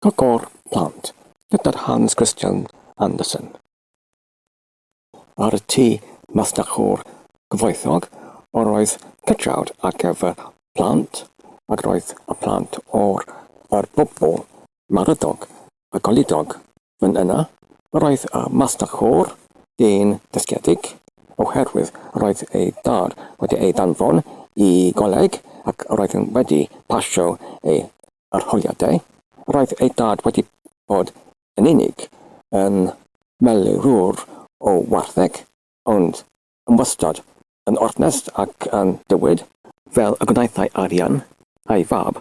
Cyngor Plant gyda'r Hans Christian Andersen ar y Tŷ Masnachwr Gyfoethog, yr oedd cytrawd ar gyfer plant ac roedd y plant o'r yr bobl maradog a goludog Yn yna, roedd y Master Côr dyn dysgiedig, oherwydd roedd ei dad wedi ei ddanfon i goleg ac roedd yn wedi pasio ei arholiadau. Roedd ei dad wedi bod yn unig yn melurwr o wartheg, ond yn wastad yn ornest ac yn dywed, fel y gwnaethai arian ei fab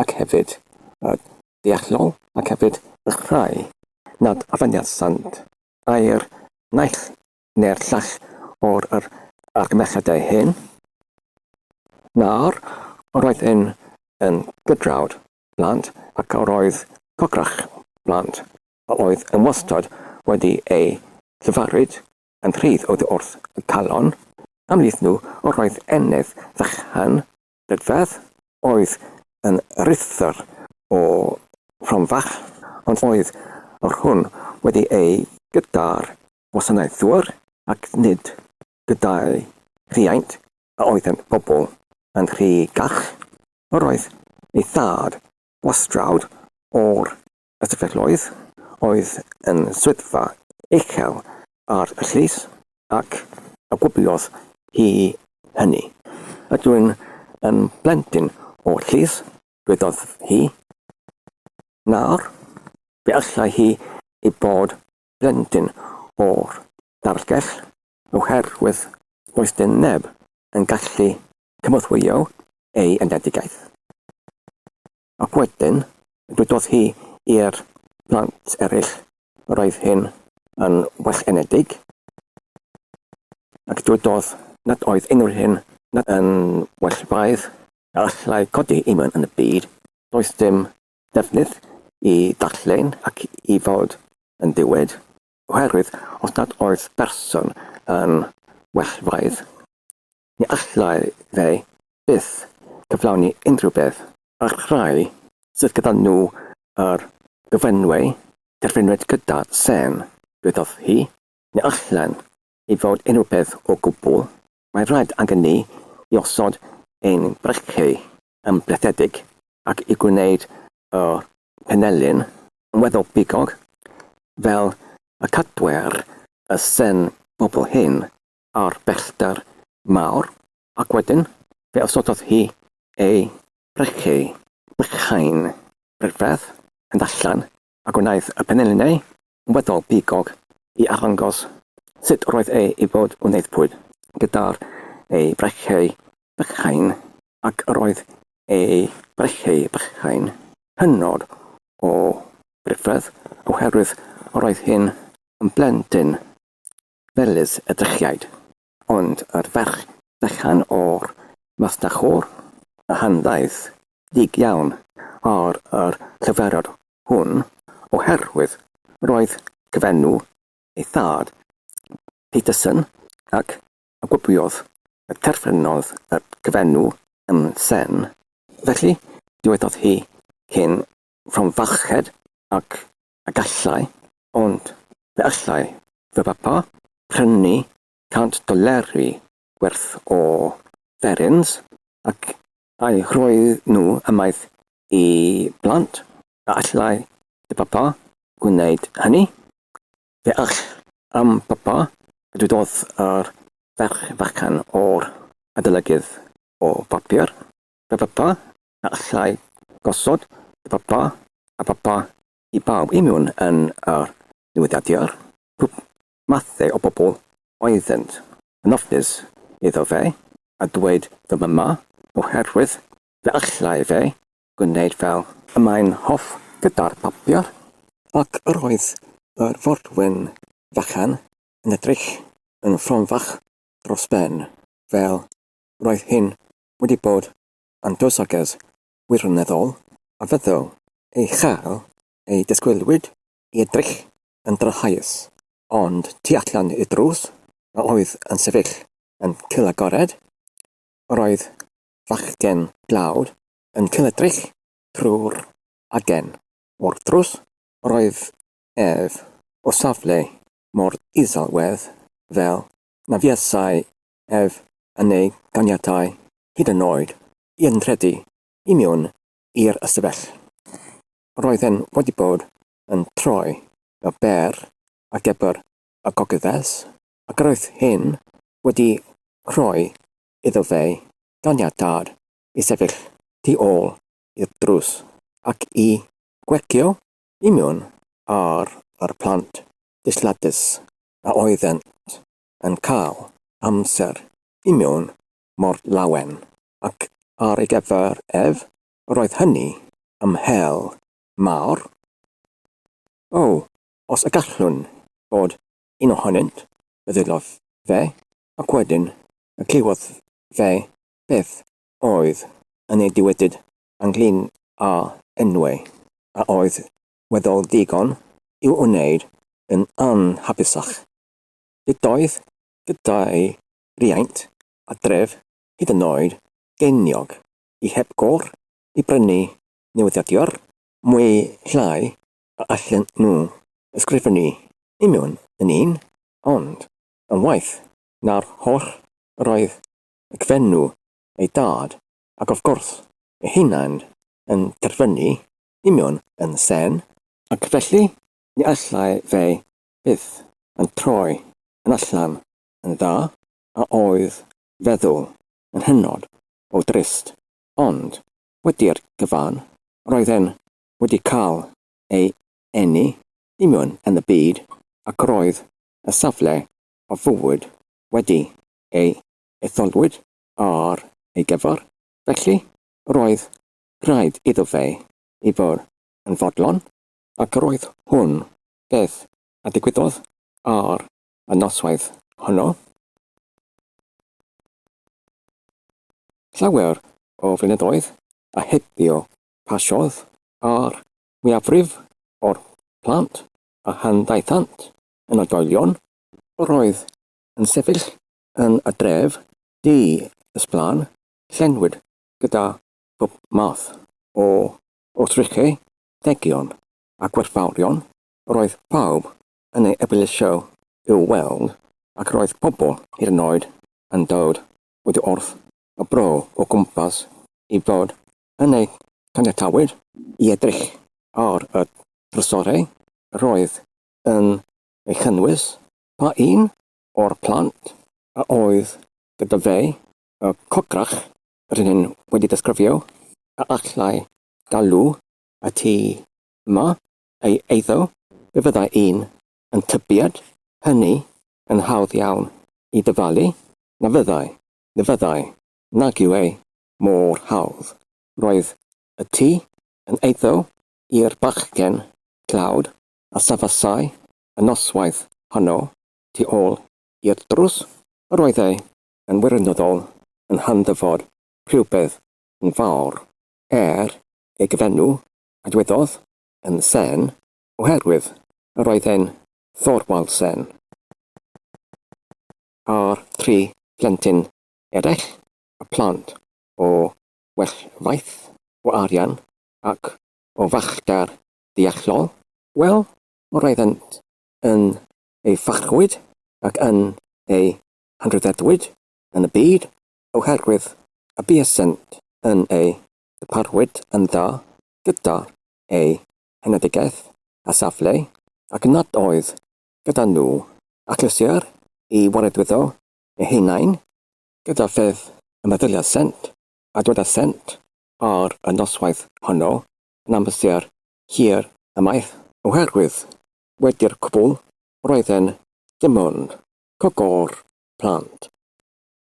ac hefyd y deallol ac hefyd y rhai nad afoniasant ai'r naill neu'r llall o'r yr argymhelliadau hyn, nawr, yr oedd hyn yn gydrawd blant ac yr oedd cograch blant a oedd yn wastod wedi eu llefarid yn rhydd oddi wrth y calon, ymhlith nhw yr oedd ennydd fychan, Bedfedd, oedd yn ruthddr o Fronfach, ond oedd yr hwn wedi ei gyda'r gwasanaethwr, ac nid gyda'i rhiaint, a oedd yn bobl yn rhy gach. Yr oedd ei thad gwastrawd o'r Ystafelloedd oedd yn swyddfa uchel ar y llys, ac a gwybiodd hi hynny? Ydw i'n yn blentyn o'r llys, dwedodd hi. Nawr, fe allai hi ei bod blentyn o'r darlgell, oherwydd does dim neb yn gallu cynorthwyo ei enedigaeth. Ac wedyn, dywedodd hi i'r plant eraill, yr oedd hyn yn wellienedig, ac dywedodd nad oedd unrhyw hyn nad yn well braidd. A allai codi imyn yn y byd, does dim defnydd i ddarllen ac i fod yn dywed, oherwydd os nad oedd person yn well braidd, Ni allai fe byth gyflawni unrhyw beth. A'r rhai sydd gyda nhw yr gyflenwi, derfynwyd gyda sên, dwedodd hi, ni allen i fod unrhyw beth o gwbl, mae rhaid angen ni i osod ein brechiau yn brethedig ac i gwneud y penelin yn weddol bigog, fel y cadwer y sên bobl hŷn a'r bellter mawr, ac wedyn fe osododd hi ei brycheu, brychau'n ryfedd, yn allan, a gwnaeth y peneliniau yn weddol bigog i arddangos sut roedd e i fod yn aeddfwyd, gyda'r ei brycheu bychain, ac yr oedd ei brycheu bychain hynod o ryfedd, oherwydd yr oedd hyn yn blentyn Felys y drychiaid. Ond yr ferch fechan o'r masnach o'r Rhanddaeth ddig iawn ar yr llyferod hwn, oherwydd roedd cyfenw ei thad, Peterson, ac a gwybiodd y terfynodd y cyfenw yn Sen. Felly dywedodd hi, cyn Fronfarched ac a gallai, ond fe allai fy bapa prynu cant doleri werth o ferins ac a'i rhoi nhw ymaith i blant, a allai dy bapa wneud hynny? Fe all, am bapa, a dywedodd yr ferch fechan o'r adolygydd o bapur. Fy bapa, a allai gosod y papa a phapa i bawb i mewn yn yr newyddiadur, pob mathau o bobl oeddynt yn ofnus iddo fe a dweud ddim yma oherwydd fe allai fe gwneud fel y mae'n hoff gyda'r papur, ac yr oedd yr forwyn fechan yn edrych yn fronfach dros ben fel roedd hyn wedi bod yn dywysoges wirioneddol a fyddai ei chael ei disgwylwyd i edrych yn drychaius, ond tu allan i'r drws a oedd yn sefyll yn cyl'agored, yr oedd fachgen dlawd yn cyl'edrych trwy'r agen. O'r drws yr oedd ef o safle mor iselwedd fel na fuasai ef yn ei ganiatáu hyd yn oed i entredu i mewn i'r ystafell. Roedd e'n wedi bod yn troi y bêr ar gyfer y gogyddes ac roedd hyn wedi rhoi iddo fe ganiatâd i sefyll tu ôl i'r drws ac i gwegio i mewn ar yr plant disgladus a oeddent yn cael amser i mewn mor lawen, ac ar ei gyfer ef, roedd hynny am hel mawr. O, os y gallwn fod un ohonynt, meddylodd fe, ac wedyn y clywodd fe beth oedd yn ei diwedyd ynglŷn â enwau a oedd weddol ddigon i'w wneud yn anhapusach. Ydoedd gyda'i riaint a dref hyd yn oed geiniog i heb gôr i brynu newyddiadurr mwy llai a allen nhw ysgrifennu union yn un, ond yn waeth na'r holl yr oedd y Gfenw, ei dad, ac of gwrs ei hunain yn terfynu union yn sen, ac felly ni allai fe byth yn troi yn allan yn dda a oedd feddwl yn hynod o drist, ond wedi'r cyfan roedd e'n wedi cael ei eni i mewn yn y byd ac roedd y safle o fywyd wedi ei etholwyd ar ei gyfer, felly roedd rhaid iddo fe i fod yn fodlon, ac roedd hwn beth a ddigwyddodd ar y noswaith honno. Llawer o flynyddoedd a heibio pasiodd a'r mwyafrif o'r plant a handdaethant yn oedolion. Yr oedd yn sefyll yn y dref du ysblan, llenwyd gyda phob math o wrthrychau, degion, a gwerthfawrogion, roedd pawb yn ei eblysu i'w weld ac roedd pobl hyd yn oed yn dod oddi wrth y bro o gwmpas i fod yn eu caniatáu i edrych ar y drysorau roedd yn ei chynnwys. Pa un o'r plant a oedd gyda fe, y cochrach rydyn ni wedi disgrifio, a allai galw a ti yma, ei eiddo, fe fyddai un yn tybied hynny yn hawdd iawn i ddyfalu, na fyddai, na fyddai, nag yw e mor hawdd. Roedd y tŷ yn eiddo i'r bachgen tlawd a safasai y noswaith honno tu ôl i'r drws, yr oedd e yn wirioneddol yn handdyfod rhywbeth yn fawr. Er ei gyfenw a dywedodd yn Sen oherwydd yr oedd e'n Thorwald Sen a'r tri phlentyn eraill y plant o well faith o arian ac o fachgar deallol, wel, yr oeddent yn ei farchwyd ac yn ei hanrhyddedwyd yn y byd oherwydd y buasent yn ei ddarparwyd yn dda gyda ei henedigaeth a safle ac nad oedd gyda nhw achlysur i waredwyddo eu hunain gyda pheth y meddyliasent a dwedasent ar y noswaith honno yn amser hir ymaith, oherwydd wedi'r cwbl roedden dim ond cogor plant